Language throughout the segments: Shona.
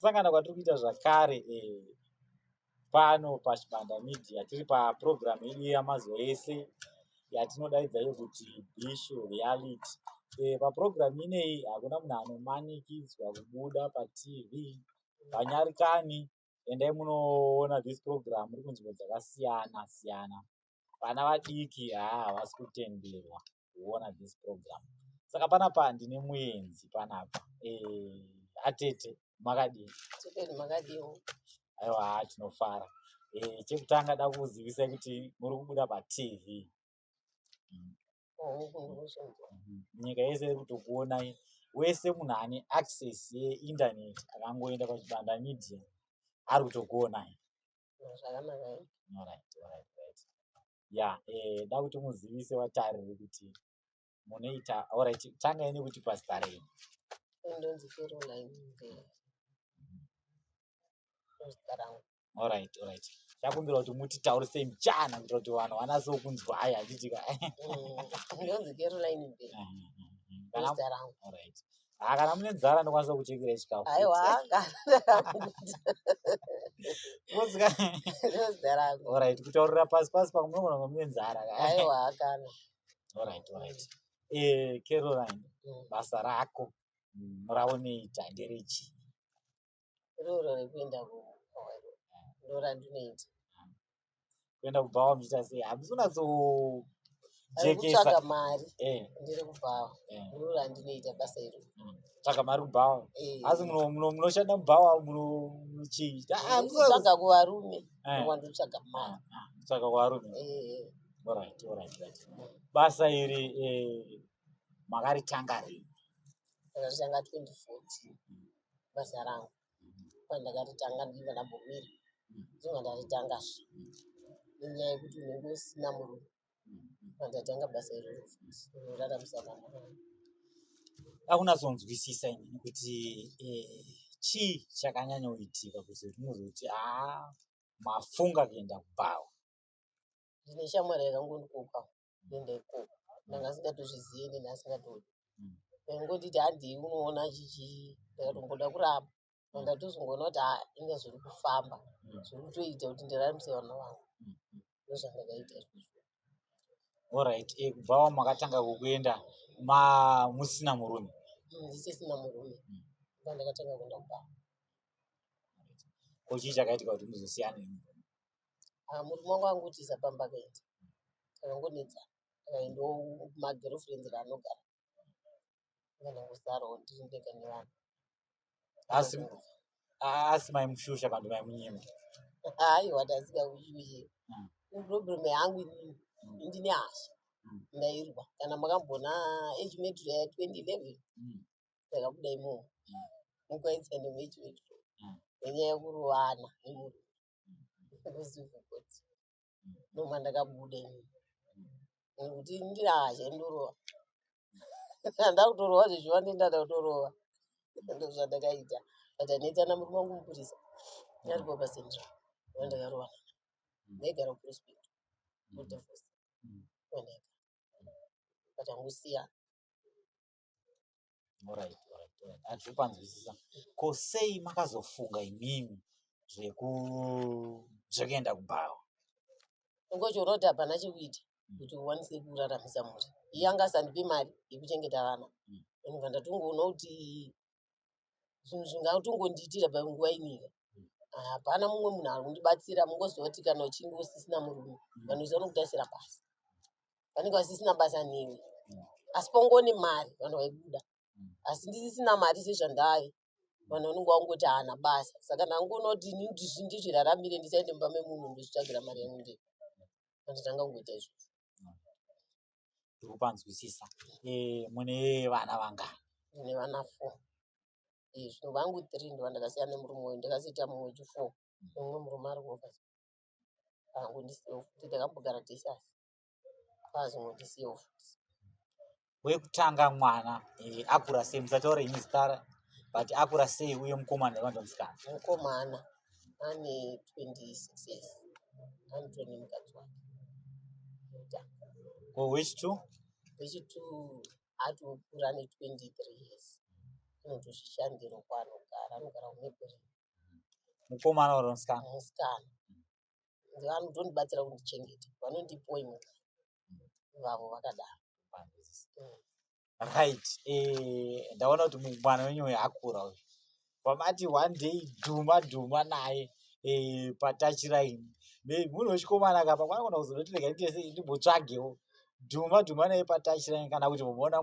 sangana kwatiri kuita zvakare eh, pano pachibanda media tiri paprogramu yedu yamazuva ese yatinodaidza iyo kuti bishu reality eh, paprogramu ineyi hakuna munhu anomanikidzwa kubuda patv panyarikani endai munoona this program iri kunzvimbo dzakasiyana siyana vana vadiki haa havasi kutenderwa kuona this program saka panapa ndine muenzi panapa eh, atete makadii aiwa haa tinofara eh, chekutanga da kuzivisai kuti muri kubuda patv nyika yese iri kutokuonai wese munhu ane access yeinternet akangoenda pachibanda media ari kutokuonai ya eh, da kuti muzivise vatariri kuti munoita orit tanga ine kuti pasta rei ndonzi caroline mvera orit orit chakumbira kuti mutitaurise mchana kuitira kuti vanhu vanaso kunzwa ayi achitika mm, ndonzi caroline mvera mm, mm, zita rangu Ah, kana mune nzara ndokwanisa kuchekera chikafu orit kutaurira pasi pasi pamwe munogona kunge mune nzara orit orit eh, caroline mm. basa rako mm, raoneita nderechi Roro rekuenda kumawairo ndorandinoita. Kuenda kubhawa muchiita sei? Hamisi unatso jekesa. mari. Eh. Ndiri kubhawa. Eh. Roro randinoita basa iro. Mm. Tsvaga mari kubhawa. Eh. Asi munoshanda mubhawa muno chii? Ah, tsvaga kuvarume. Eh. Wandotsvaga mari. Ah, ah. Tsvaga kuvarume. Eh. All right, all right, right. Basa iri eh makaritanga rini? Rakatanga 2014. basa rangu kwai ndakaritanga ndichiva ndambomira ndinonga ndaritangazve nenyaya yekuti unenge usina murume pandatanga basa iroro unoraramisa vana vangu akunazonzwisisa ini nekuti eh, chii chakanyanyoitika kuti unozoti haa mafunga kuenda kubhawa ndine shamwari yakangondikoka kuenda ikoko ndanga asingatozvizive neni asingatodi vaingonditi handii unoona chichi ndakatomboda kuramba ndatozongoona kuti haa inga zviri kufamba zviri kutoita kuti ndiraramisa vana vangu ndozvandakaita izvozvo Alright, eh, kubva wamakatanga kukuenda ma musina murume. Mm, ndisisina murume Mm. ndandakatanga kuenda kubaba Ko chii chakaitika kuti muzosiyane? ah, murume wangu angotiza pamba akaenda akangonetsa akaendawo magirlfriends raanogara kana kusaro ndiri ndega nevanhu asi asi maimushusha vanhu vaimunyima aiwa ndasika kushushe hmm. problem yangu inini hmm. ndine hasha hmm. ndairwa kana makambona age metro ya 2011 ndakabuda imomo mukaitsa nemechi metro nenyaya yekurovana nemurume ndozivhukoti ndoma ndakabuda ini nekuti ndiraacha ndorova ndakutorova zvezviva ndendada kutorova ndozvandakaita but anoitana murume wangu mupurisa aripo pasendra vandakarovana ndaigara kuprospect kudavos but angusiya Alright, alright, alright. Handisi kupanzwisisa. Ko sei makazofunga imimi zveku zvekuenda kubhawa? Ngochoroti hapana chekuita Mm. kuti uwanise kuraramisa mhuri. Iye anga asandipe mari yekuchengeta vana. Mm. Ndobva ndatongoona kuti zvinhu zvingatongondiitira panguva inyika hapana mumwe munhu ari kundibatsira mungoziva kuti kana uchinge usisina murume vanhu vese vanokutasira basa vanenge vasisina basa newe asi pongone mari vanhu vaibuda asi ndisisina mari sezvandave vanhu vanenge vangoti haana basa saka ndangoona kuti ini ndizviraramire ndisaende mumba memunhu ndozvitsvagira mari yangu ndee anditanga kungoita izvozvo ndiri kupanzwisisa eh, mune vana vangani ine vana four Eh, zvino vangu three ndovandakasiya nemurume uyu ndakazoita mumwe chu four nemumwe murume ari kuoka vangu ndisiyewo futi takambogara tese asi kwazongo ndisiyewo futi wekutanga mwana eh, akura sei musataure ini zita ra- but akura sei uye mukomana here kana kuti musikana mukomana ane 26 years anotoni nemukadzi wake Ruta. Ko which two? vechitu ati okura ane 23 years anotozvishandira uko anogara anogara kumeberi Mukomana or musikana? musikana ndivanodondibatsira kundichengeta vanondipoimwe vavo vakadaro right eh, ndaona kuti mwana wenyu uyu akura uyu pamati one day dhuma dhuma naye eh, patachiraini munhu wechikomana kapa kwanogona kuzonoti rega nditese ndimbotsvagewo dhuma dhuma naye patachiraini kana kuti muona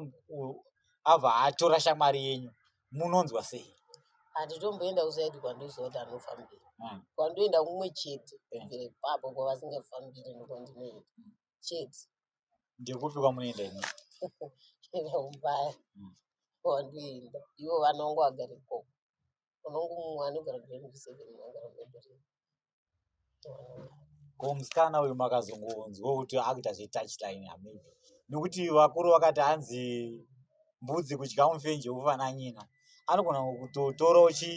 ava atora shamwari yenyu munonzwa sei handitomboenda kusaidi kwandoziva kuti anofambira mm. kwandoenda kumwe chete eh. kubvira ipapo kwavasingafambiri nokwandinoenda mm. chete ndekupi kwamunoenda ini enda kumbaya mm. kwandoenda ivo vana wangu agara ikoko unongu mumwe anogara kuremuseven agara mebere ko musikana uyu makazongonzwa kuti akuita zvetouchline amei nekuti vakuru vakati hanzi mbudzi kudya mufenje ufana nyina anogona kutotorawo chi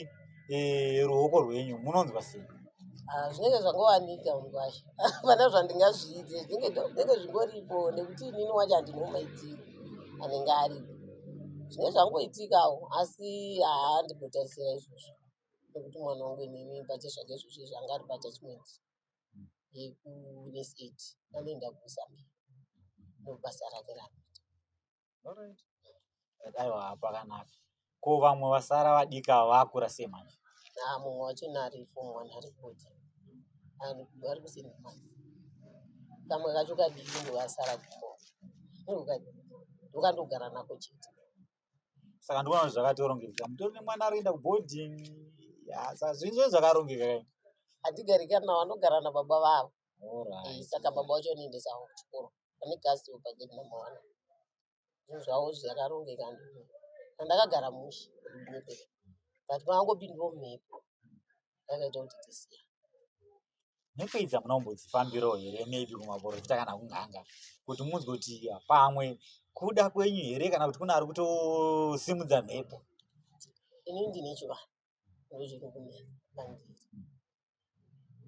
eh, ruoko rwenyu munonzwa sei Ah, zvinenge zvangowanika mungwasha hapana zvandingazviite zvinenge zvinenge zvingoripo nekuti inini wacho handinomaitiri anenge aripo zvinenge zvangoitikawo asi haa ndimbotarisira izvozvo nekuti mwana wangu inini bhacha zvake zvose zvanga ari paatachment yekunesat anoenda kuzambia nokubasa rake raanoita Alright. Aiwa pakanaka. Ko vamwe vasara vadiki ava vakura sei manje? naa mumwe wacho naari form one ari kuti ari kusina mari kamwe kacho kadiki ndovasara kuko ndokandogara nako chete saka ndikuona kuti zvakatorongeka mutori nemwana ari kuenda kuboarding yasa zvinhu zve zvakarongeka kai hatigari kana vanogara nababa vavo Eh, saka baba wacho anoendesa avo kuchikoro vane gasi pagedi number one zvinhu zvavo zvakarongeka ndizvo. Saka ndakagara mushe mumhepo but pangangopindiwo mhepo akaita kuti tisiya nekuidzi hamuna kumbodzifambirawo here maybe kumaporofita kana kun'anga kuti munzwe kuti pamwe kuda kwenyu here kana kuti kune ari kutosimudza mhepo ini ndine chivanhu ndochirikumberi pandiri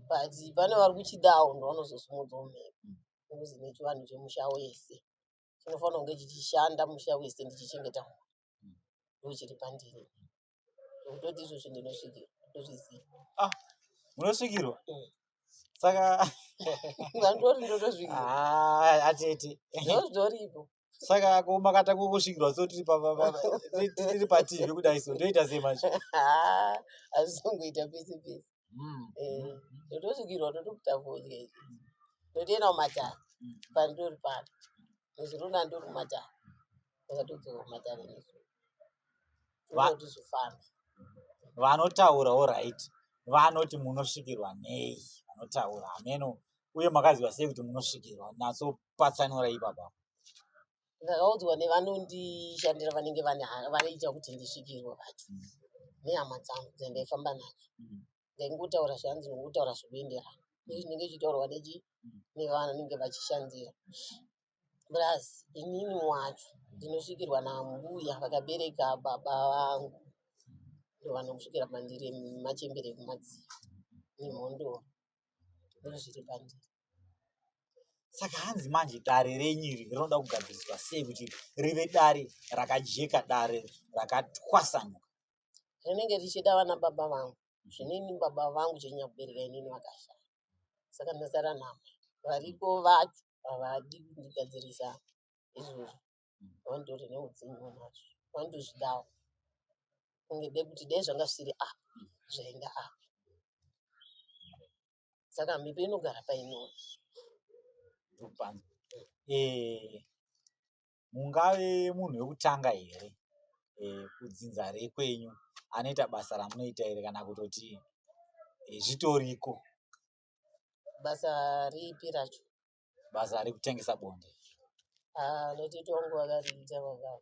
but pane vari kuchidawo ndovanozosimudzawo mhepo nokuti ine chivanhu chemusha wese chinofanira kunge chichishanda musha wese ndichichengeta mhuri ndochiri pandiri Ndoti izvozvo ndinosvikirwa. Ndozviziva. Ah, munosvikirwa. Mm. Saka Ndandori ndotozvikirwa. ah, atete. Ndozvoripo. Saka ko makata kukusvikirwa so tiri pa- pa- pa- tiri- tiri pativi kudai so ndoita sei manje? Ah, Hazvizongoita pese pese. Mm. Eh, ndotosvikirwa ndotokuta fodya izvi. Ndotoenda kumatare. Mm. Pandori pano. Nezuro ndandori kumatare. Ndakatodzoka kumatare nezuro. vanoti zvifambe vanotaura orit vanoti munosvikirwa nei vanotaura hameno uye makaziva sei kuti munosvikirwa natso patsanura ipapa ndakaudzwa nevanondishandira vanenge vanoita kuti ndisvikirwe vacho mm. nehama dzangu dzendaifamba nadzo mm. ndaingotaura zvanzi ndingotaura zvinoenderana izvi zvinenge zvichitaurwa nechi nevanhu vanenge vachishandira plus inini wacho ndinosvikirwa nambuya vakabereka baba vangu ndovanokusvikira pandiri machembere ekumadziva nemhondoro ndozviri pandiri saka hanzi manje dare renyu iri rinoda kugadziriswa sei kuti rive dare rakajeka dare rakatwasanuka rinenge richida vana baba vangu zvinini baba vangu chenyakubereka inini vakashaya saka ndasara nama variko vacho havadi kundigadzirisa izvozvo vandori neudzimu nazvo vandozvidawo kunge de kuti dei zvanga zvisiri a zvainga a saka mhepo inogara painoo Ndopano. Eh, mungave munhu wekutanga here eh, kudzinza rekwenyu anoita basa ramunoita here kana kutoti eh, zvitoriko basa ripi racho basa rekutengesa bonde ah, notiti wangu vakariita vakava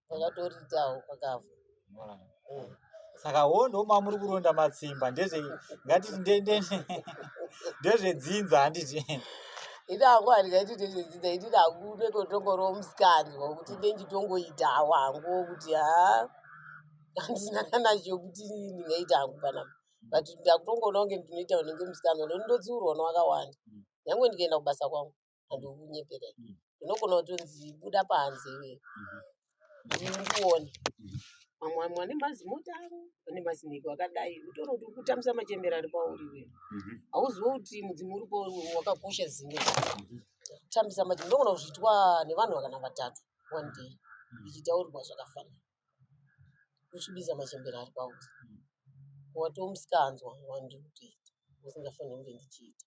vakatoritawo vakava saka wo ndomamuri kuronda matsimba ndezve ngatiti ndezvedzinza handiti ita hangu handika iti ndezvedzinza iti ndakude kotongoro musikanzwa kuti ndenditongoita hawo hangu kuti ha handina kana chekuti ndingaita hangu kana but ndakutongoona kunge ndinoita unenge musikanzwa ndondotsiurwa nowakawanda nyange ndikaenda kubasa kwangu and ukunyepera mm. unogona kutonzi buda panze iwe mm-hmm. ndikuone mm-hmm. mamwe vamwe vane mazimota avo vane mazinhiko akadai utoona kuti ukutambisa machembera ari pauri iwe mm-hmm. hauzive kuti mudzimu uripo wakakosha zimwe tambisa machembera unogona kuzviitwa nevanhu vakana vatatu one day zvichitaurirwa zvakafanana uchibisa machembere ari pauri watiwo musikanzwa wandiri kutoita usingafaniri kunge ndichiita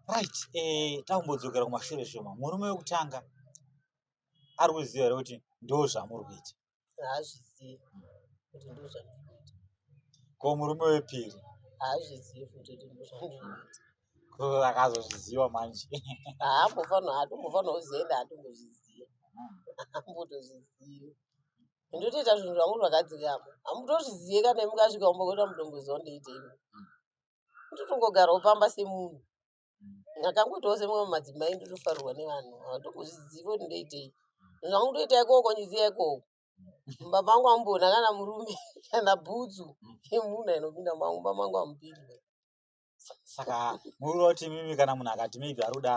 right eh, takumbodzokera kumashure shoma murume wekutanga ari kuziva here kuti ndo zvamuri kuita haazvizivi kuti ndozvandikuita ko murume wepiri haazvizivi kuti ndozvandikuita ko akazozviziva manje haambofanira hatombofanira kuzoenda hatombozviziva haambotozvizivi ndotoita zvinhu zvangu zvakadzikama hamutozvizive kana imukasvika umbokuita mudongoziva ndoitei ndotongogarawo pamba semunhu ndakangoitawo semamwe madzimai ndotofarirwa nevanhu ava ndongozviziva kuti ndoitei zvangu ndoita ikoko ndiziva ikoko mumba mangu amumboona kana murume kana bhutsu yemunhu ainopinda mumba mangu amupindwe saka murira kuti mimi kana munhu akati maybe ari kuda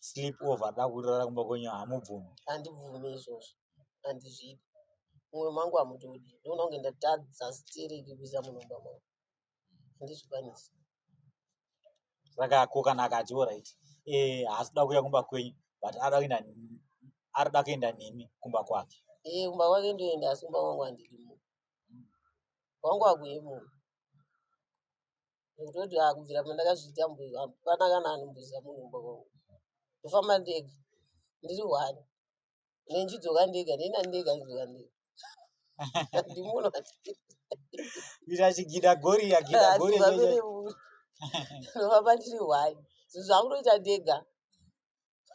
sleep over da kurara kumba kwenyu hamubvumi handibvume izvozvo handizvidi mumwe mangu hamutodi ndoona kunge ndatadza stereki kuisa munhu mumba mangu handizvikwanisi saka ko kana akati orit eh, haasi kuda kuuya kumba kwenyu but arikuda kuenda ari kuda kuenda nemi kumba kwake ee eh, kumba kwake ndoenda asi kumba kwangu handidi munhu kwangu akuye munhu ndototi akubvira ah, pandakazviita hapana kana anombuza munhu kumba kwangu ndofamba ndega ndiri hwani ndinodzoka ndega ndina ndega ndinodzoka ndega ndimuno kuita chigida gori yagida gori ndovamba ndiri hwani zvinhu zvakunoita ndega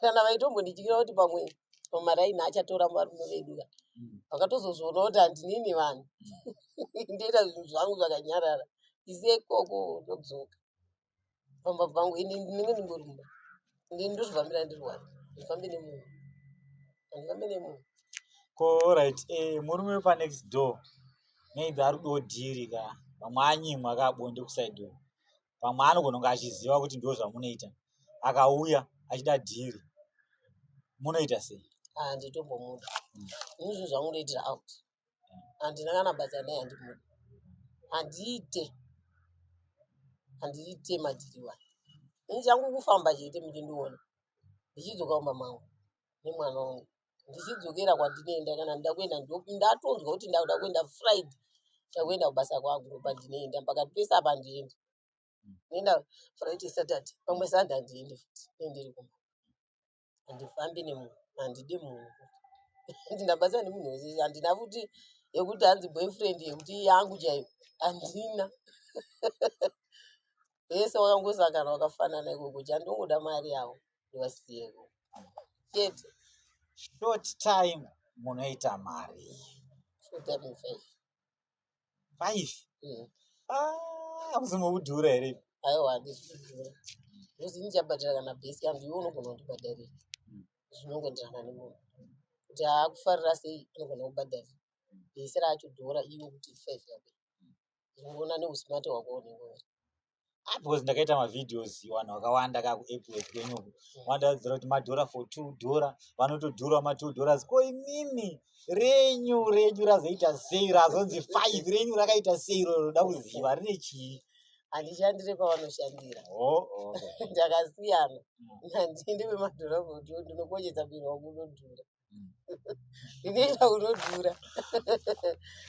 kana vaitombondityira kuti pamwe pamaraini achatora varume vedu ka mm. vakatozozviona kuti handinini vanhu ndoita zvinhu zvangu zvakanyarara isekoko ndodzoka pamba pangu ini ndinenge ndingori mumba ndini ndozvifambira ndiri wani ndifambe nemunhu handifambe nemunhu ko right eh, murume wepa next door maybe ari kudawo dhiri ka pamwe anyimwa ka bonde kusaidi uko pamwe anogona kunge achiziva kuti ndo zvamunoita akauya achida dhiri munoita sei handitombomuda ini zvinhu zvangu ndoitira out handina kana basa naye handimude handiite handiite madhiriwa ini changu kufamba chete muchindiona ndichidzoka kumba mangu nemwana wangu ndichidzokera kwandinoenda kana ndida kuenda ndatonzwa kuti ndakuda kuenda friday ndakuenda kubasa kwangu ndoba ndinoenda mpaka pese apa ndiendi ndienda friday saturday pamwe sunday handiendi futi nendiri kumba handifambi nemunhu handidi munhu kuti ndabatsira nemunhu wese handina futi yekuti hanzi boyfriend yekuti yangu chaiyo handina vese wakangosangana wakafanana ikoko chandongoda mari yavo ndivasiyeko chete short time munoita mari short time faith five mm. ah, akuzomaudhura here aiwa handizvidhura because ini chabhadhara kana bhesi yangu iwe unogona kundibhadharira mm. zvinongoenderana nemunhu kuti akufarira sei anogona kubhadharira bhesi racho dhora iwe kuti five yako zvingoona neusmart hwako unenge uri ah, because ndakaita mavideos vanhu vakawanda kaa kuepwork kwenyu vandadzira kuti madhora for two dhora vanotodhura matwo dhoras ko imimi renyu renyu razoita sei razonzi five renyu rakaita sei iro roda kuziva rine chii handishandire pavanoshandira oh, oh. ndakasiyana mm. nandinde vemadhora for two ndinokochesa biro wangu unodhura Ndinoita unodhura.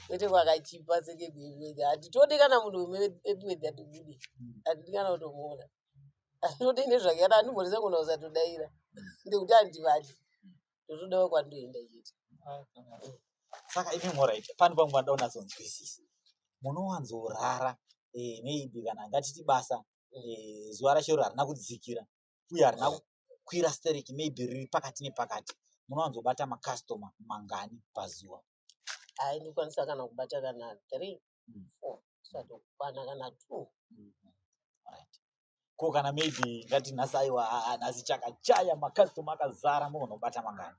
Kwete kwakachipa senge gwegwede. Hatitodi kana munhu wemwe epiwedhi atibude. Hatidi kana kutomuona. Anode nezvake kana andimbonisa kuona usatodaira. Ndekuti handivadi. Ndotoda wakwandoenda chete. Saka imi moraita pano pangu vanoda unatsonzwisisa. Munowanzorara eh, maybe kana ngatiti basa eh, zuva racho iro harina kudzikira uye harina kukwira stereki maybe riri pakati nepakati munowanzobata makastoma mangani pazuva aindikwanisa kana kubata kana three mm. four satokwana kana two mm -hmm ko kana maybe ngati nhasi aiwa nhasi chakachaya makastoma akazara mogona kubata mangani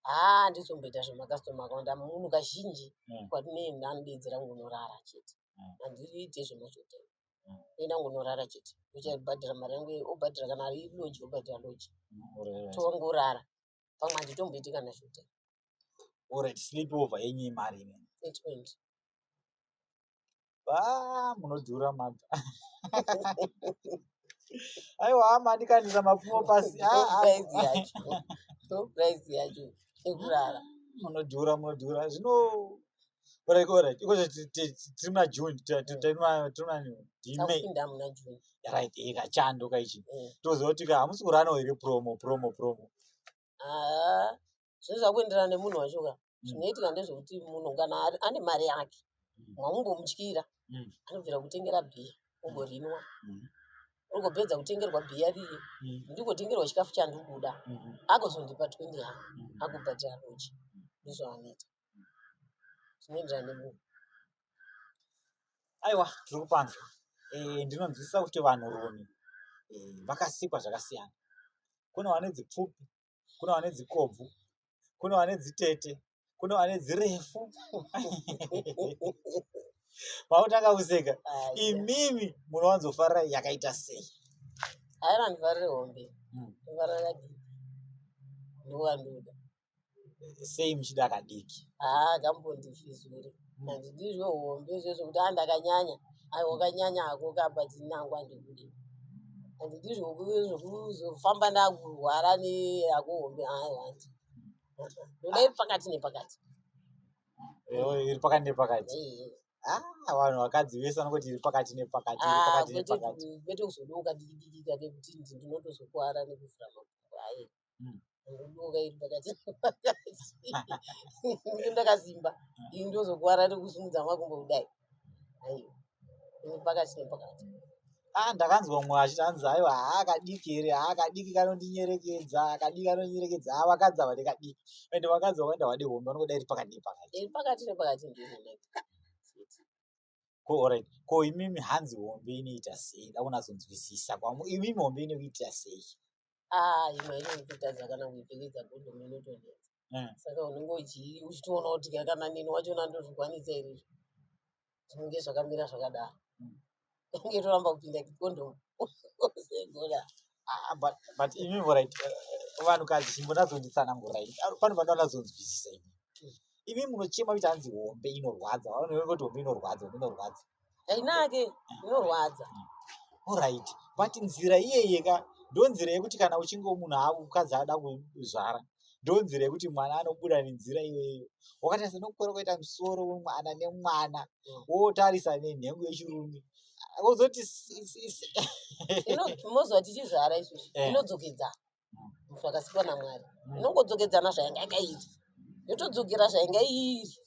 haa ndizomboita zvemakastoma akawanda munhu kazhinji hmm. kwatinoenda anodeedzera kungonorara chete hmm. handiite zvemachotenga enda ngonorara chete uchabhadhara mari yangu iyoyo obhadhara kana ari loji obhadhara loji tongorara pamwe handitomboiti kana zvota orit sleep over yenyu imari ine munodhura mata aiwa hama andikanisa mapfumo pasi price yacho ekurara munodhura munodhura zvino Alright, alright. Iko zve ti- ti- ti- tiri muna June, ti- ti- tiri muna- tiri muna ndi May. Takupinda muna June. Right, eh, kachando kaichi. Eh. Toziva kuti ka hamusi kurano here promo, promo, promo. Ah, zvinhu zvakuenderana nemunhu wacho ka zvinoitika ndezvekuti munhu kana ari- ane mari yake mwamungomutyira Mm. anobvira kutengera bhiya ungorinwa Mm. ungopedza kutengerwa bhiya riye Mm. ndikotengerwa chikafu chandikuda Mhm. akozondipa 20 yangu Mm. akubhadhira roji ndizvo anoita zvinoenderana nemunhu aiwa zviri kupanzwa eh, ndinonzwisisa kuti vanhu rumi eh, vakasikwa zvakasiyana kune vane dzipfupi kune vane dzikobvu kune vane dzitete kune vane dzirefu pautanga kuseka imimi munowanzofarira yakaita sei aira ndifarire hombe ndifarira hmm. kadii ndowandoda sei muchida kadiki haa akambondifizuri hanzi ndizvo hombe izvozvo kuti a ndakanyanya aiwa kanyanya hako kapa tinangwa ndikude hanzi ndizvo zvokuzofamba ndakurwara neyako hombe aiwa hanzi ndoda iri pakati nepakati iri pakati nepakati ah, vanhu vakadzi vese vanongoti iri pakati nepakati iri ah, pakati nepakati kwete kuzodoka dikidiki kake kuti ndinotozokuwara nekuvhura makumbo aye mm. ndoka iri pakati pakati ndakazimba ini ndozokuvara nekusimudza makumbo kudai aiwa ini pakati nepakati ah ndakanzwa mumwe achiti anzi aiwa haa kadiki here haa kadiki kanondinyerekedza kadiki kanondinyerekedza haa vakadzi ava ndekadiki and vakadzi vakaenda vade hombe vanokuda iri pakati nepakati iri pakati nepakati ndizvo ko orit ko imimi hanzi hombe inoita sei da kunatsonzwisisa kwamo imimi hombe inokuitira sei ah, imwe inokutadza kana kuipfekedza gondomu inotonetsa hmm. saka unenge uchitoona kuti kana nini wachona ndozvikwanisa here izvo zvinenge zvakamira zvakadaro hmm. inge toramba kupinda gondomu Ah, but but imi vorit vanhukadzi chimbonazonditsanangurai pano vanoda nazonzwisisa imi imi munochema kuti hanzi hombe inorwadza vanoti hombe inorwadza hombe inorwadza hainake inorwadza orit but nzira iyeye ka ndo nzira yekuti kana uchinge munhu aakukadzi ada kuzvara ndo nzira yekuti mwana anobuda nenzira iyoyeyo wakatarisa nokukora kwaita musoro wemwana nemwana wotarisa nenhengo yechirume wozoti moziva tichizvara izvozvi eh. inodzokedza munhu akasikwa namwari hmm. inongodzokedzana zvainga iri yotodzokera zvainga iri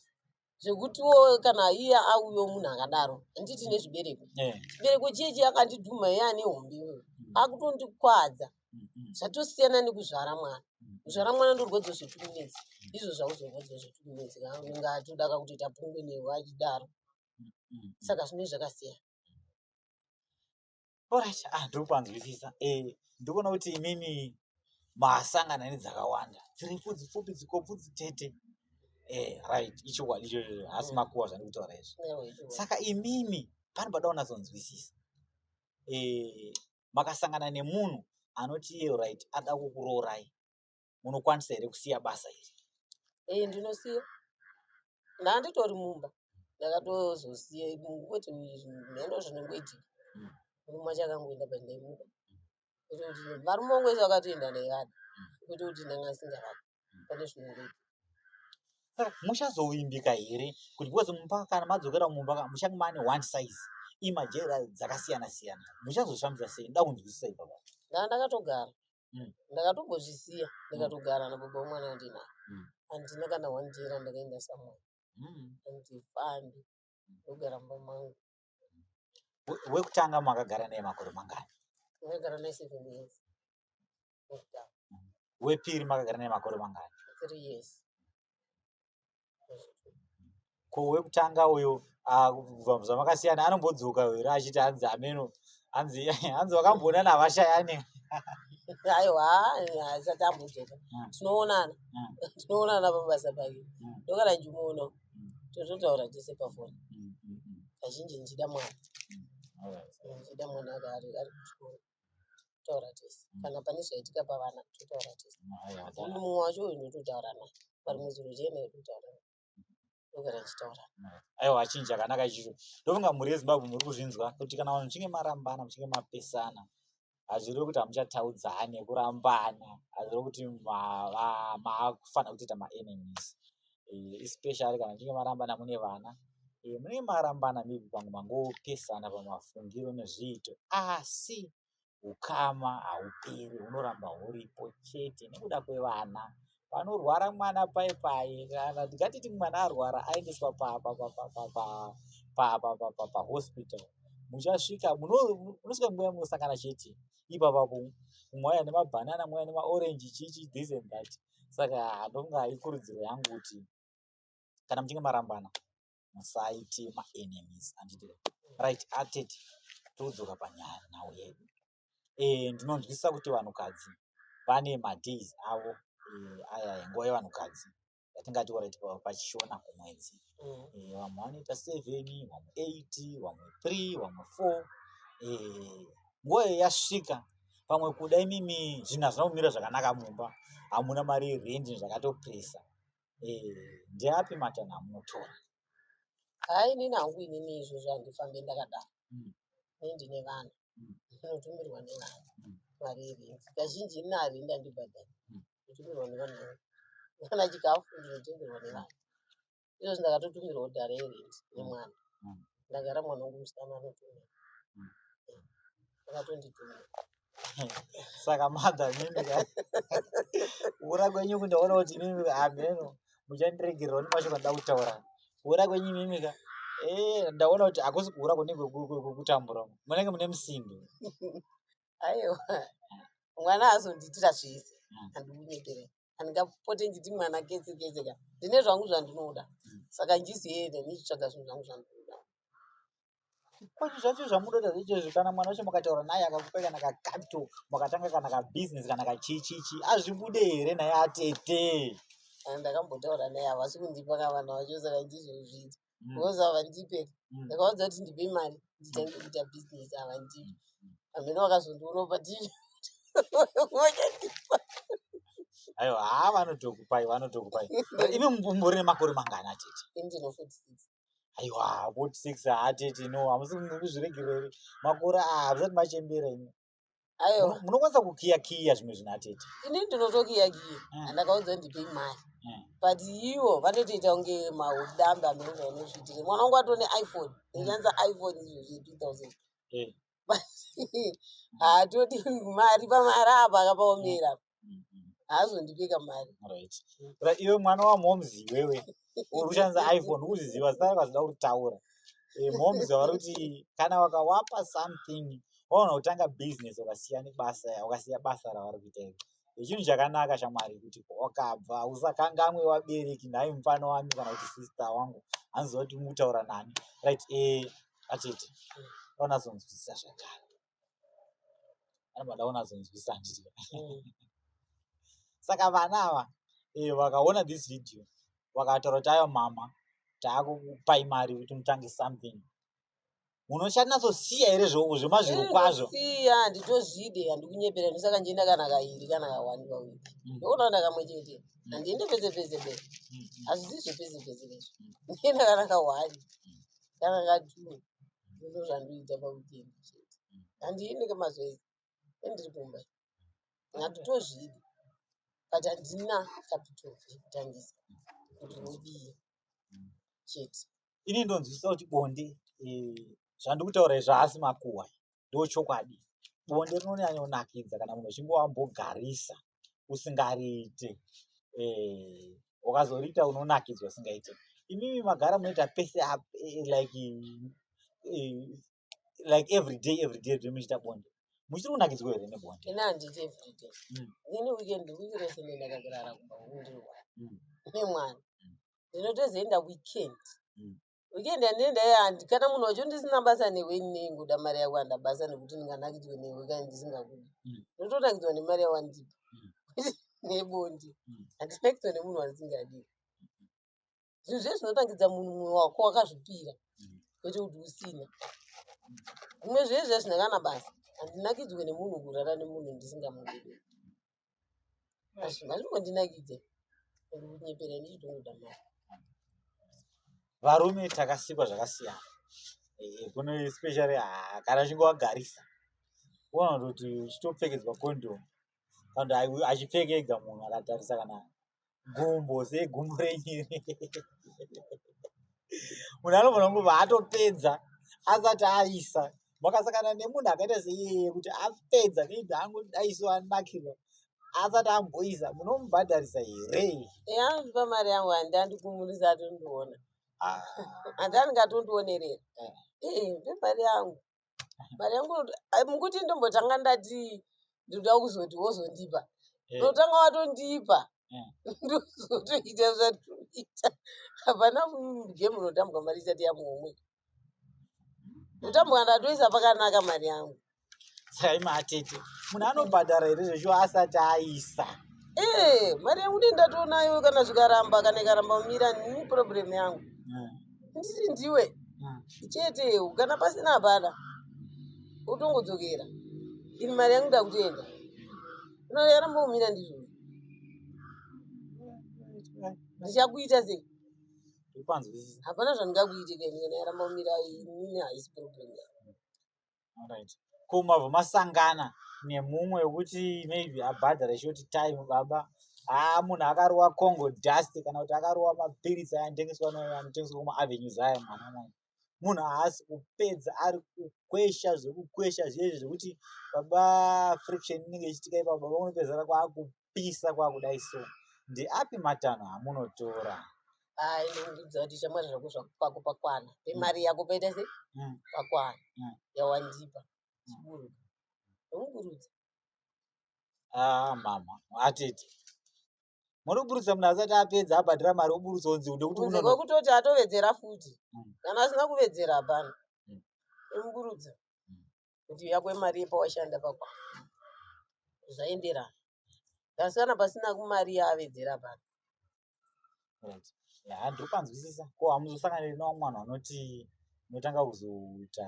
zvekutiwo kana iye auyo munhu akadaro handiti nezvibereko eh. chibereko chiye chiye akandidhuma iye ane hombe iyoyo hmm. akutondikwadza zvatosiyana nekuzvara mwana kuzvara mwana ndorwadzo zvetukunetsi izvo zvauzorwadziwa zvetukunetsi unenge atoda kakutoita pungwe newe achidaro saka zvinoi zvakasiyana orit ah, ndiri kupanzwisisa eh, ndikuona kuti imimi masangana nedzakawanda dziri pfudzi pfupi dzikopfu dzitete eh, right ichokwadi ichocho hasi mm. makuwa zvandiri kutaura izvi saka imimi pane pada unazonzwisisa eh, makasangana nemunhu anoti iye right ada kukuroorai munokwanisa here kusiya basa iri ee ndinosiya ndanditori mumba ndakatozosiya kwete mheno zvinongoitika hmm. murume wacho akangoenda pandaimuka kuti kuti varume vangu vese vakatoenda ndaivada kwete kuti ndanga asingavadi pane zvinodiwa saka muchazovimbika here kuti because mumba kana madzokera mumba ka muchange mane one size imajera dzakasiyana siyana muchazoshamisa sei nda kunzwisisa ipapa ndaa ndakatogara Mm. ndakatombozvisiya ndikatogara nababa wemwana wandinaye Mm. handina kana one day randakaenda samwana mm. handifambi ndogara mumba mangu We- wekutanga makagara naye makore mangani ndakagara naye seven years wepiri makagara naye makore mangani ko wekutanga uyo ah, kubva zvamakasiyana anombodzoka here achiti hanzi ameno hanzi hanzi wakamboona navashayani aiwa haisati ambodzoka hmm. tinoonana hmm. tinoonana pabasa pake hmm. ndokana njimuno tototaura tese pafoni kazhinji ndichida mwana ndichida mwana ari kuchikoro totaura tese kana pane zvaitika pavana totaura tese uyu mumwe wacho uyu ndototaura naye vari mwedzi unochena yototaura naye ndogara ndichitaura naye aiwa chinhu chakanaka ichicho ndofunga mhuri yezimbabwe muri kuzvinzwa kuti kana vanhu muchinge marambana muchinge mapesana hazvirevi kuti hamuchataudzane kurambana hazvirevi kuti maakufanira kutoita maenemies eh, especially kana muchinge marambana mune vana eh, munenge marambana maybe pamwe mangopesana pamafungiro nezviito asi ukama hauperi hunoramba huripo chete nekuda kwevana panorwara mwana paye paye kana ndingatiti mwana arwara aendeswa pahospital muchasvika munosvika nguva yamunosangana chete ipapa mweya nemabhanana mweya nemaorenji chichi this and that saka ndonga ikurudziro yangu kuti kana muchinge marambana musaite maenemies anditire right atete todzoka panyaya nhau yedu e, ndinonzwisisa kuti vanhukadzi vane madays avo e, aya nguva yevanhukadzi yatingati orit pachishona kumwedzi mm. e, vamwe vanoita seven vamwe eight vamwe three vamwe four e, nguva iyo yasvika pamwe kuda imimi zvinhu hazvina kumira zvakanaka mumba hamuna mari yerendi zvakatopresa eh, ndeapi matanho amunotora hai nini hangu inini izvozvo handifambe ndakadaro mm. ne ndine vana mm. ndinotumirwa nevana mm. mari yerendi kazhinji ina arendi andibhadhari mm. ndotumirwa nevana kana chikafu ndinotengerwa nevana izvozvi ndakatotumirwa kudhara yerent nemwana Mm. ndagara mwana wangu musikana anotumira Mm. akatonditumira saka madha mimi ka kuura kwenyu uku ndaona kuti mimi ka hameno muchandiregererwa nemashoko andoda kutaura kuura kwenyu mimi ka Eh, ndaona kuti hakusi kuura kunenge ku- ku- ku- kutambura uku. munenge mune musimbi aiwa mwana azondiitira zvese Mm. andikunyeperei handingapote ndichiti mwana kese kese ka ndine zvangu zvandinoda saka ndizoenda ndichitsvaga zvinhu zvangu zvandinoda kwati zvacho zvamunoda zvichezvi kana mwana wacho mukataura naye akakupa kana kacapito makatanga kana kabhizinesi kana kachichichi azvibude here naye atete ndakambotaura naye havasi kundipa kavana vacho saka ndizozviita mm. because havandipe mm. ndakaudza kuti ndipe mari nditange mm. kuita business havandipe mm. hamheno vakazondiona patii ayo haa ah, vanotokupai vanotokupai imi mumbori nemakore mangani atete indino 46 aiwa 46 atete no hamusi kuzviregereri makore aa ah, musati machembera imi Ayo. Muno- munokwanisa kukiya kiya zvimwe zvinhu atete Ini ndinotokiya kiya. Mm. Andakaudza ndipe mari. Mm. But ivo vanotoita kunge maudambe amene zvaunozviitire. Mwana wangu atone iPhone. Ndichanza iPhone izvo zve 2000. Eh, Haatodi mari pamari apa akapaomera. haazondipe kamari right but iwe mwana wamoms iwewe uri kushandisa iphone ukuziziva zita rako hazvida kuritaura eh, moms vari kuti kana wakawapa something waona kutanga business wakasiya nebasa wakasiya basa ravari kuita iri echinhu chakanaka shamwari kuti wakabva usakangamwe wabereki nhai mufana wami kana kuti sister wangu hanzi kuti mukutaura nani right e eh, atete onazonzwisisa zvakare anobva ndaona azonzwisa handiti mm. saka vana ava eh, vakaona this video vakataura kuti ayo mama taakupai mari kuti mutange something unochanatsosiya here zvoko zvemazviro kwazvo siya handitozvide handikunyepera ndosaka ndienda kana kairi kana kawani kawiri mm. ndokunaona kamwe chete mm. handiende pese pese pe mm, hazvizizve pese pese pezvo ndienda kana kawani kana katuni ndizvo zvandiita paweekend chete handiende kwemazuva ese endiri kumba handitozvidi but handina capital yekutangisa kuti ndodii chete ini ndonzwisisa kuti bonde eh, zvandikutaura izvo haasi makuhwa ndochokwadi bonde rinonyanyonakidza kana munhu uchinge wambogarisa usingariite eh, ukazoriita unonakidzwa usingaite imimi magara munoita pese up eh, like eh, like every day every day zve muchiita bonde muchiri kunakidzwa here nebonde ini handiti every day mm. ini weekend wiki rese ndendakagarara kumba kundirwa mm. nemwana mm. ndinotozoenda weekend weekend yandine ndaiya handi kana munhu wacho ndisina basa newe ini neingoda mari yako handa basa nekuti ndinganakidzwe newe kana ndisingakudi mm. ndotonakidzwa nemari yawandipa mm. nebondi mm. handinakidzwa nemunhu wandisingadi zvinhu zve zvinotangidza munhu mumwe wako wakazvipira kwete kuti usina zvimwe zvezvezvine kana basa handinakidzwe nemunhu kurara nemunhu ndisingamudii hazvingondinakidze kunyepera ini chitongoda mari varume takasikwa zvakasiyana eh, kuno especially ah, kana uchinge wagarisa uona kuti uchitopfekedzwa condom kana achipfeka ega munhu akatarisa kana gumbo sei gumbo renyiri munhu anogona kunge vaatopedza asati aisa makasakana nemunhu akaita seiyeye kuti apedza maybe angu aiso anakirwa asati amboisa munomubhadharisa here yandipa mari yangu handi andikumurisa atondiona ah. handi andingatondionerera eh. eh, ndimari yangu mari yangu ah, mukuti ndombotanga ndati ndinoda kuzoti wozondipa eh. ndotanga watondipa eh. ndozotoita zvatoita hapana mudye munotambwa mari isati yamumwe ndotambwa ndatoisa pakanaka mari yangu sai matete munhu anobhadhara here zveshuwa asati aisa ee eh, mari yangu ndi ndatonayo kana zvikaramba kana ikaramba mira ni problem yangu ndiri ndiwe hmm. chete kana pasina hapana utongodzokera ini mari yangu ndakutoenda unoyarambomira ndizvo ndichakuita sei hapana zvandingakuite kainyanayarambomira inini haisi problem yako right ko mabva masangana nemumwe wekuti maybe abhadhara short time baba haa munhu akarowa congo dust kana kuti akarowa mapiritsi aya anotengeswa anotengeswa kumaavenues aya mwana mwana munhu haasi kupedza ari kukwesha zvekukwesha zviyezvi zvekuti baba friction inenge ichitika ipapa baba unopedzana kwaakupa kwapisa kwakudai so ndeapi matanho amunotora ainondiudza kuti shamwari zvako zvako pakwana pemari yako paita se mm. pakwana mm. yawandipa chiburuka ndomuburudza ah, mama atete muri kuburutsa munhu asati apedza abhadhira mari oburutsa onzi ndekutiwekutoti atovedzera futi mm. kana asina kuvedzera hapana omuburutsa kuti yako imari yepawashanda pako zvaenderana asi kana pasina kumari yaavedzera pano handipanzwisisa ko hamuzosanganiri nawo mwana anoti unotanga kuzoita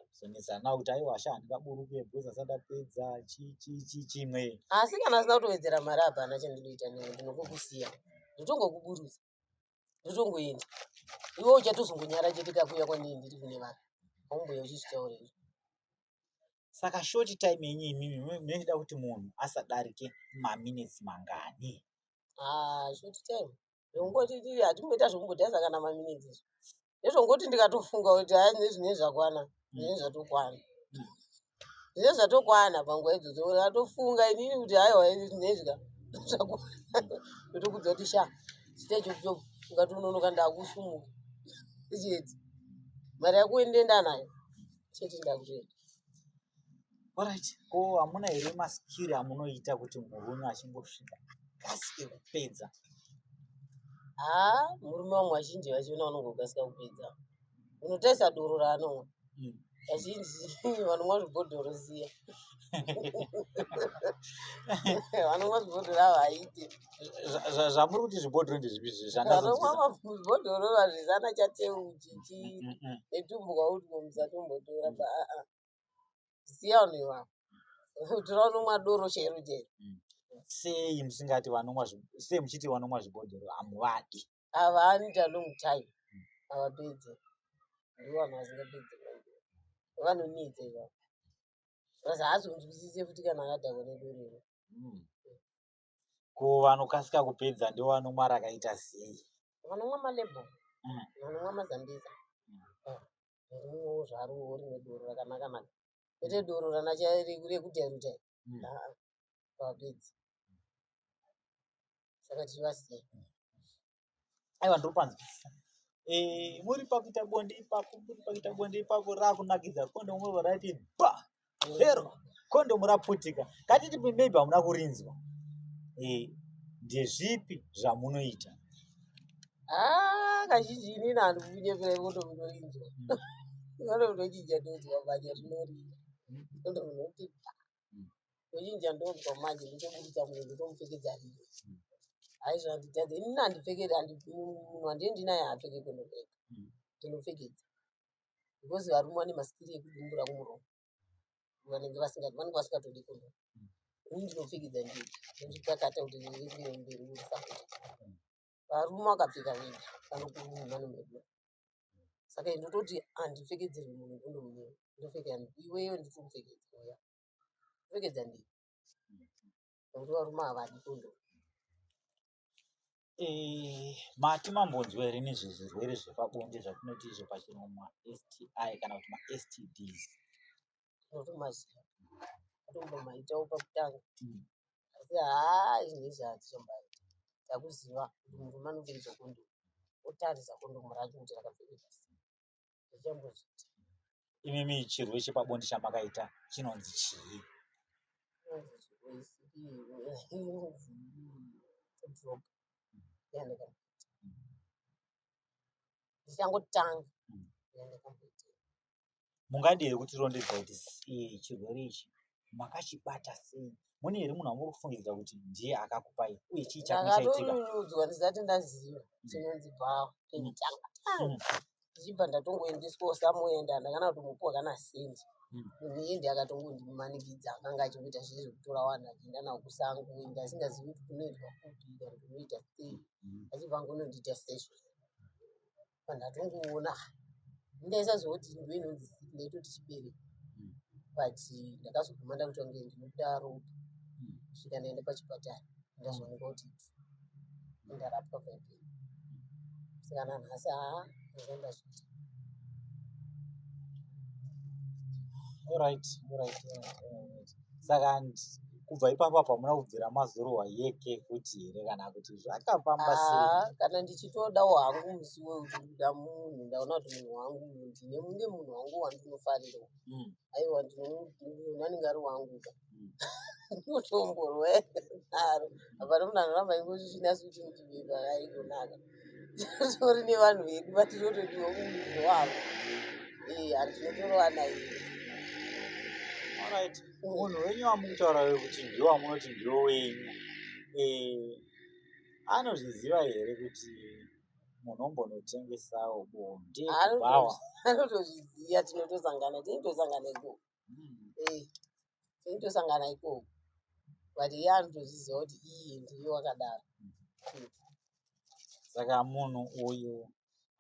kuzonetsana nawo kuti aiwa sha handingaburuke because asati apedza chichichi chimwe asi kana asina kutowedzera mari hapana chandinoita newe ndinokokusiya ndotongokuburutsa ndotongoenda iwe uchatozongonyara chete kakuuya kwandii ndiri kune vanhu haumbuya uchichitaura izvo saka short time yenyu imimi munoda kuti munhu asadarike maminutes mangani ah, short time zvokungotitii hatimboita zvokumbodhaiza kana maminutes izvo ndezvongoti ndikatofunga kuti haa zvinei zvinei zvakwana zvinei zvatokwana zvinei zvatokwana panguva idzodzo ndatofunga inini kuti haiwa zvinei zvika zvakwana kuti kudza kuti sha chita ichokucho ungatononoka ndakusumuka chiedzi mari yako uende enda nayo chete ndakutoenda Alright, ko hamuna here maskiri amunoita kuti murume achingosvika kasi ekupedza? Haa, murume wangu vazhinji vachiona vanongokasika kupedza. Unotarisa doro raanomwa. Mm. Vazhinji vanomwa zvibhodhoro ziya. Vanomwa zvibhodhoro ava haite. Zvamuri kuti zvibhodhoro ndezvipi zvishandazvo? Vanomwa mabhodhoro vazvisana chateuti. chichitumbuka kuti musatombotora ba aa siya vanhu ivavo tora unomwa doro chero chero mm. sei musingati vanomwa sei muchiti vanomwa zvibhodhoro hamuvadi havani ta long time mm. havapedze ndivo vanhu vasingapedze vanonetsa ivavo bcause haazonzwisise futi kana akadhakwa nedorero mm. ko vanokasika kupedza ndivo vanomwa rakaita sei vanomwa malebo mm. vanomwa mazambiza mm. eh, rimwewo zvaruwo rimwe doro rakanaka mani kwete doro ranacharekudyaruta mm. vapedzi saka tirivasiya aiwa ndopanzwa eh, muri pakuita bonde ipapo muri pakuita bonde ipapo rakunakidza kondomu roba raiti ba hero kondomu raputika katiti maybe hamuna kurinzwa eh, ndezvipi zvamunoita ah, kazhinji inini handikunyepera kondomu inorinzwa kondomu nochinja ndonzwa manya zvinorira kondomu noti ndochinja ndobva manje ndotoburitsa munhu ndotomupfekedza rimwe aizvo handitadze inini handipfekeri munhu handiye ndinaye haapfeke kondopfeka ndinopfekedza because varume vane masikiri ekudumbura kumuromo vanenge vasingati vanenge vasingatodi kuno ini ndinopfekidza ndii ndozvikakata kuti ndirimberi urisaa varume vakapfeka vega vanokuruhumano medu saka ndototi handipfekedzerwi munhu ndonomunyima ndopfeka iweyo nditomupfekedza uya kupfekedza ndii nokuti varume havadi kondomu Eh, mati mambonzwa here nezvezvirwere zvepabonde zvatinoti izvo pachirongwa sti kana kuti mastds ndotomaziva ndotombomaitawo pakutanga mm. asi haa izvi izvi hatichombaita takuziva kuti murume anopfekedzwa kondomu otarisa kondomu racho kuti rakapfekedzwa sei zvichambozviti imimi chirwe chepabonde chamakaita chinonzi chii ndichangotanga mm. mungadii here kuti rondedza kuti eh, chirwere ichi makachibata sei mune here munhu amuri kufungidzira kuti ndiye akakupai uye chii chakaitikaudzwa ndisati ndaziva mm. chinonzi bhawa nditanga mm. mm. ndichibva ndatongoendeswa usamuenda ndakana kuti mupuwa kana sendi muindi akatongondimanikidza akanga achikuita zviri zvekutora vanhu achienda navo kusango enda asingazivi kuti kunoitwa kupi kana kunoita sei achibva ngonondiita session vanhu atongoona ndaisazoti ndo inonzi sick ndaitoti chibere mm. but ndakazoguma ndakuti wange ndinobuda ropa mm. svika ndaenda pachipatara ndazooneka kuti ndarapwa vape sikana nhasi haa ndaenda zviti All right, all right, all right, all right. saka kubva ipapo apa muna kubvira mazorohwa yeke futi here kana kuti zvakafamba ah, sei kana ndichitodawo hangu musi wekuti ndikuda munhu ndaona kuti munhu wangu ndine mune munhu wangu wandinofarira hmm. aiwa ndinonanenge ari wangu ka hmm. ndinotomborwa naro hapana munhu anoramba ingozvichinasi kuti ndiiaikonaka tori nevanhu vedu vatinotodiwa mumuviri wavo handinotorovana ii unhu wenyu wamukutaura wekuti ndiwo wamunoti ndiwo wenyu eh, anozviziva here kuti munhu ombonotengesawo bonde anotoziva tinotosangana tinotosangana ikoo eyi tinotosangana ikoko but iye anotozviziva kuti iyi ndiyo wakadaro saka munhu uyu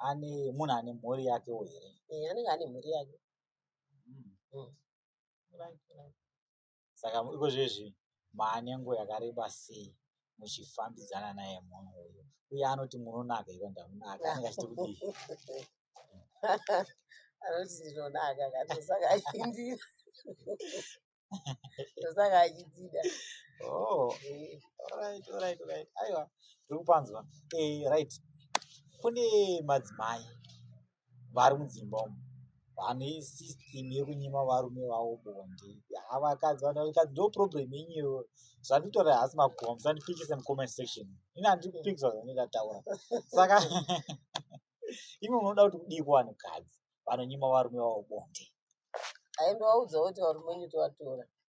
ane munhu ane mhuri yakewo here eh, anenge ane mhuri yake hmm. Hmm. saka iko zvezvi maanenguva yakareba sei muchifambidzana naye munhu uyu uye anoti munonaka iro ndamunaka anenge achiti kudii anoti ndinonaka katosaka achindira tosaka achidida oh, aiwa tiri kupanzwa eh, right kune madzimai vari mudzimba umu vane system yekunyima varume vavo bonde havakadzi vanakadzi ndo problem yenyu iyoyo zvanditaura hasi makuwa musandipikise mucomment section ini handipikiswa zvandingataura saka imi munoda kuti kudii kuvanhu kadzi vanonyima varume vavo bonde aimbovaudzawo kuti varume wenyu tovatora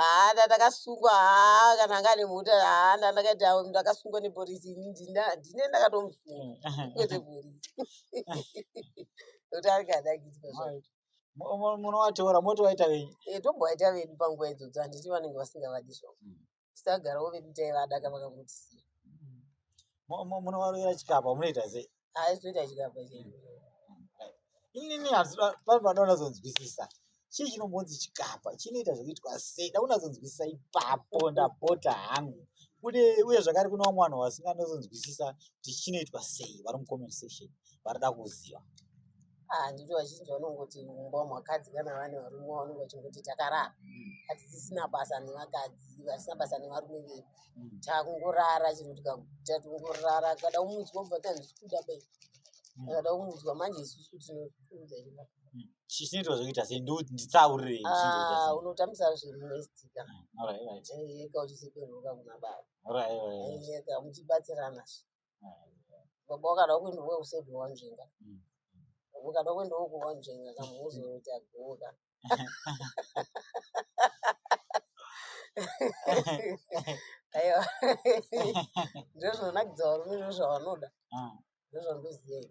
haana ndakasungwa haa kana anga ane mota haana ndakaita ndakasungwa nepolisi ini ndine ndakatomusunga mm. kwete polisi kuti angadakidzwa zvake munovatora motovaita venyu eh, tombovaita vedu panguva idzodzo handiti vanenge vasingavadi zvavo mm. tisagarawo vedu taivada ka vakangotisiya munovarovera chikapa munoita sei aizitoita chikapa chei inini pari panoda unazonzwisisa chii chinombonzi chikapa chinoita zvekuitwa sei da unazonzwisisa ipapo ndapota hangu kune uye zvakare kune vamwe vanhu vasinganazonzwisisa kuti chinoitwa sei vari mucomment section varida kuziva handiti vazhinji vanongoti mumba makadzi kana vane varume vanonge vachingoti takarara hatisisina basa nevakadzi vasina basa nevarume vedu takungorara chero tikaguta tingorara kada umudzwa kubva tanzi kuda bai kada umudzwa manje isusu tinokuudza iaa chinoitwa zvekuita sei nditsaurire ah, unotambisa zvemuestika ah, eka uchiseperuka kuna baba eka muchibatsirana baba wakada kuenda we said wanzvenga ukada kuenda wo kuwanzvenga ka muzoita goka aiwa ndizvo zvinonakidza varume ndizvo zvavanoda ndizvo ndoziyei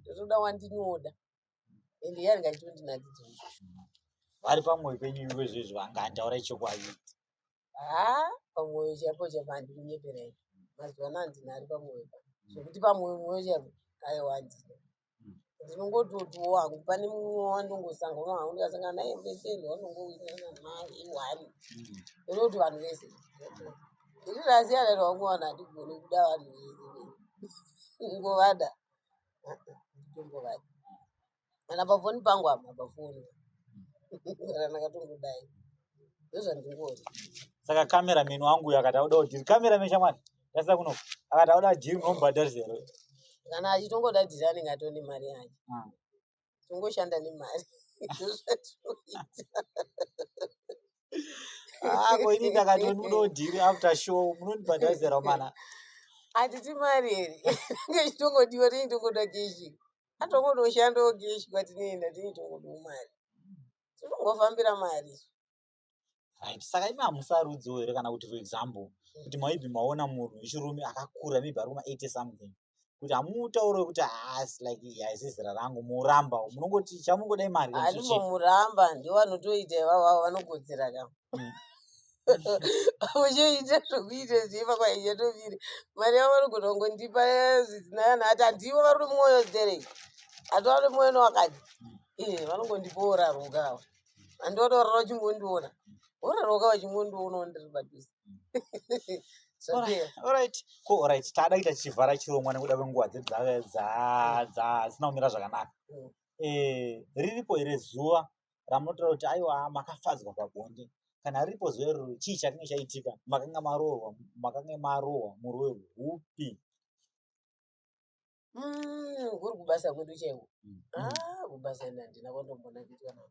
ndotoda wandinoda and iye anenge achitondinakidza vari pamwoyo penyu ivo izvezvi vanga andaura ichokwadi haa pamwoyo chaipo chaipo handikunyeperai mazuva ano handina ari pamwoyo pa zvekuti pamwoyo mwoyo chaipo aiwa handina ndinongototiwo hangu pane mumwe wandongosangana hangu ndikasangana naye mbeseni wanongowirirana naye one ndinoti vanhu vese ini zvasiyana zvangu vanhu handigone kuda vanhu vese ngovada ngovada kana pafoni pangu hama pafoni kana ndakatongodai ndozvandingoona saka kamera meni wangu uyo akati auda udhiri kamera meni shamwari ndasisa kuno akati auda dhiri unombhadharisero kana achitongoda dhiri anenge atone mari yake ah. tongoshanda nemari ako ah, ini ndakati munodhiri after show munondibhadhazira mana hatiti mari here ngechitongodiwa tini tongoda keshi atongodoshanda okeshi kwatinoenda tini tongodo mari tinongofambira mari right saka imi hamusarudziwo here kana kuti for example kuti maibhi maona munhu wechirume akakura maybe ari kuma eighty something kuti hamutauro wekuti haasi ah, like haisi zera rangu muramba munongoti chamungoda imari anomuramba ndiwo vanotoita ivavo vanokodzera ka mm. uchiita zvokuita zviva kwaichatoviri mari yavo vanogona kungondipa zvisina kana ati handivo vari nemwoyo zerei hati vari nemwoyo nowakadzi mm. eh, vanongondipa oraruka ava andodorora uchingondiona ororoka uchingondiona ndiri padhuze orit ko orit taada kuita tichivhara chirongwa nekuda kwenguva dzedzasina kumira zvakanaka mm. eh, riripo here zuva ramunotora kuti aiwa makafadzwa pabonde kana riripo zuva iroro chii chakange chaitika makanga maroorwa makange marohwa muroyo hupi Mm, kuri kubasa kwedu chaiko Mm. ah kubasa ini handina kwandombona kuitwa navo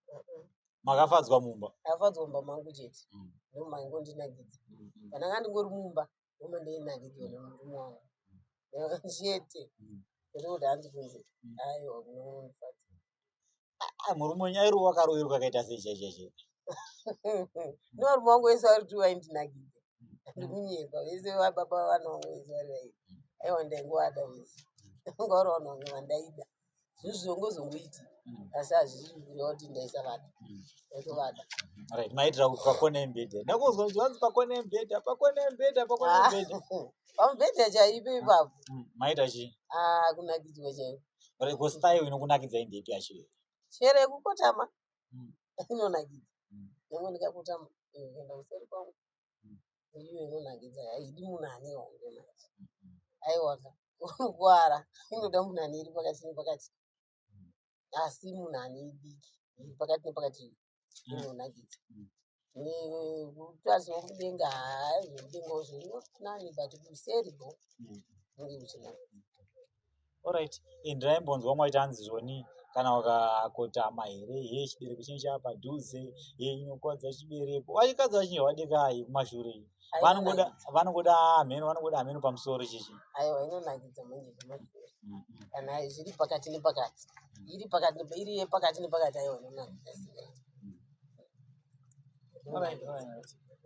Uh-uh. makafadzwa mumba afadzwa mumba mangu chete Mm. ndomaingondinakidza Mm, mm, kana ngandingori mumba ndoma ndeinakidwa nemurume wangu chete Mm. kwete kuti hanzi kunzi Mm. aiwa kunomufadza Ah, murume wenyu airohwa akaroverwa akaita sei chaizvaizvo ndovanhu vangu vese vari kuti vaindinakidza ndikunyepa vese vababa vana vangu vese vari vaii aiwa ndaingovada vese vanga vari vanhu vange vandaida zvino zvizongozongoiti asi hazvisi kureva kuti ndaisavada ndatovada right maitira kuti pakone embedha ndakunzwa kuti vanzi pakone embedha pakone embedha pakone embedha pamubhedha chaipo ipapo Mm, maita chii Ah, kunakidzwa chaiko rego style inokunakidzai ndepi yacho iyo chero yekukotama Mm. inonakidza Mm. nyangwe ndikakotama eh, kuenda kuseri kwangu Mm. iyo inonakidza haidi munhu ane honde manje aiwaka unogwara inoda munhu ane iri pakati nepakati asi munhu ane idiki iri pakati nepakati inonakidza kutaziwa mudenga haa zvemudenga zvo not nani but kuseri bo unge uchinakidza Alright, eh, ndaimbonzwa umwe aiti hanzi zvoni kana ukakotama here he chibereko chinenge chaapadhuze he inokwadza chibereko vachikadzi vachinge vadekai kumashure iyo vanongoda vanongoda hameno vanongoda hameno pamusoro chichi aiwa inonakidza manje mm-hmm. kana zviri pakati nepakati mm. iri pakati iri yepakati nepakati aiwa inonakidza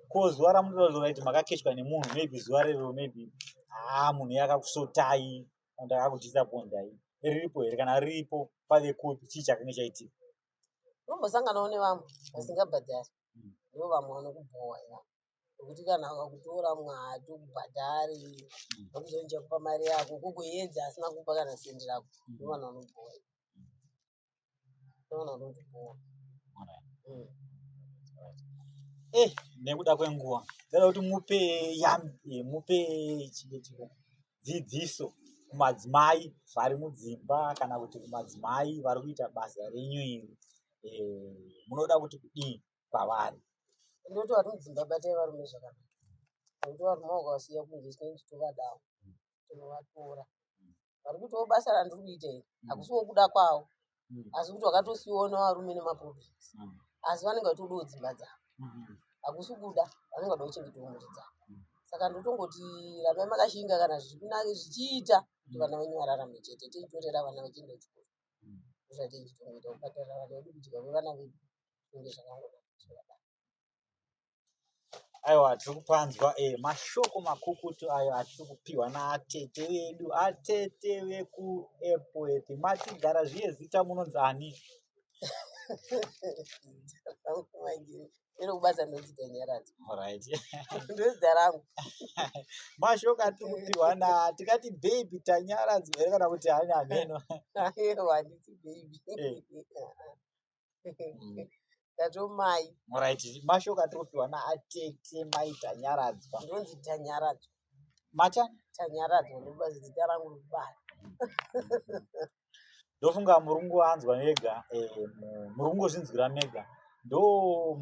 ko zuva ramunotaura kuti makakechwa nemunhu maybe zuva rero maybe haa ah, munhu yakakusotai and akakudisapondai riripo here kana riripo pave kupi chii chakange chaitika unombosanganawo nevamwe vasingabhadhari ndivo vamwe vanokubhowa iva nekuti kana vakakutora mumwe haatokubhadhari vakuzonja kupa mari yako kukuedza asina kupa kana sendi rako ndivo vanhu vanobhowa iva ndivo vanhu vanotibhowa Mm. eh nekuda kwenguva ndoda kuti mupe yami eh, mupe chii- chii- dzidziso kumadzimai vari mudzimba kana kuti kumadzimai vari kuita basa renyu iri eh, munoda kuti kudii kwavari ndoti vari mudzimba batai varume zvakanaka nekuti varume vakavasiya kunze tinenge titovadawo tinovatora vari kutiwo basa randiri kuita iri mm. hakusi wokuda kwawo mm. asi kuti vakatosiona varume nemaproblems mm. asi vanenge vachitodawo dzimba dzavo mm-hmm. hakusi kuda vanenge vada kuchengetawo mhuri dzavo saka ndotongoti ramai makashinga kana zvichiita kuti vana venyu vararame chete tichitorera vana vachienda kuchikoro ndozvatinenge tichitongoita kubhadharira vana vedu kudya kwevana vedu zvinenge zvakangonaka zvakadaro aiwa tiri kupanzwa eh, mashoko makukutu ayo atiri kupiwa naatete vedu atete vekuepwet matigara zviye zita munonzi ani Vangu vainge iri kubasa ndodzika nyaradzo right ndozita rangu mashoko atiri kupihwa na tikati baby tanyaradzi here kana kuti hanya hameno aiwa handiti baby Eh. Mm. ndatomai right mashoko atiri kupihwa na atete mai tanyaradzwa ndonzi tanyaradzo matya tanyaradzo ndobasa zita rangu rikubasa ndofunga murungu anzwa mega eh, murungu zvinzwira mega ndo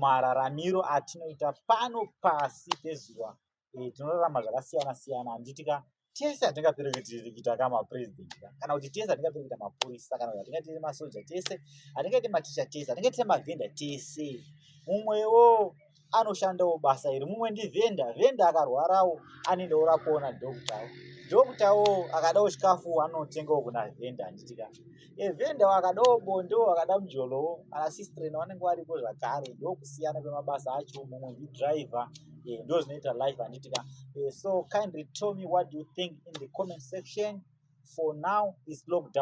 mararamiro atinoita pano pasi pezuva eh, tinorarama zvakasiyana siyana handiti ka tese hatingapere kutirikita ka mapresident kana kuti tese hatingapere kuita mapurisa kana kuti hatingaitire masoja tese hatingaite maticha tese hatingaitire mavhenda tese mumwewo anoshandawo basa iri mumwe ndivhenda vhenda akarwarawo anenge ora kuona doktawo doktawo akadawo chikafu anotengawo kuna vhenda handitika evhenda wakadawo bondo wakada mujolowo anasistrena vanenge varipo zvakare ndokusiyana kwemabasa acho mumwe ndidriver eh, ndo zvinoita life handitika eh, so kindly tell me what do you think in the comment section for now is lockdown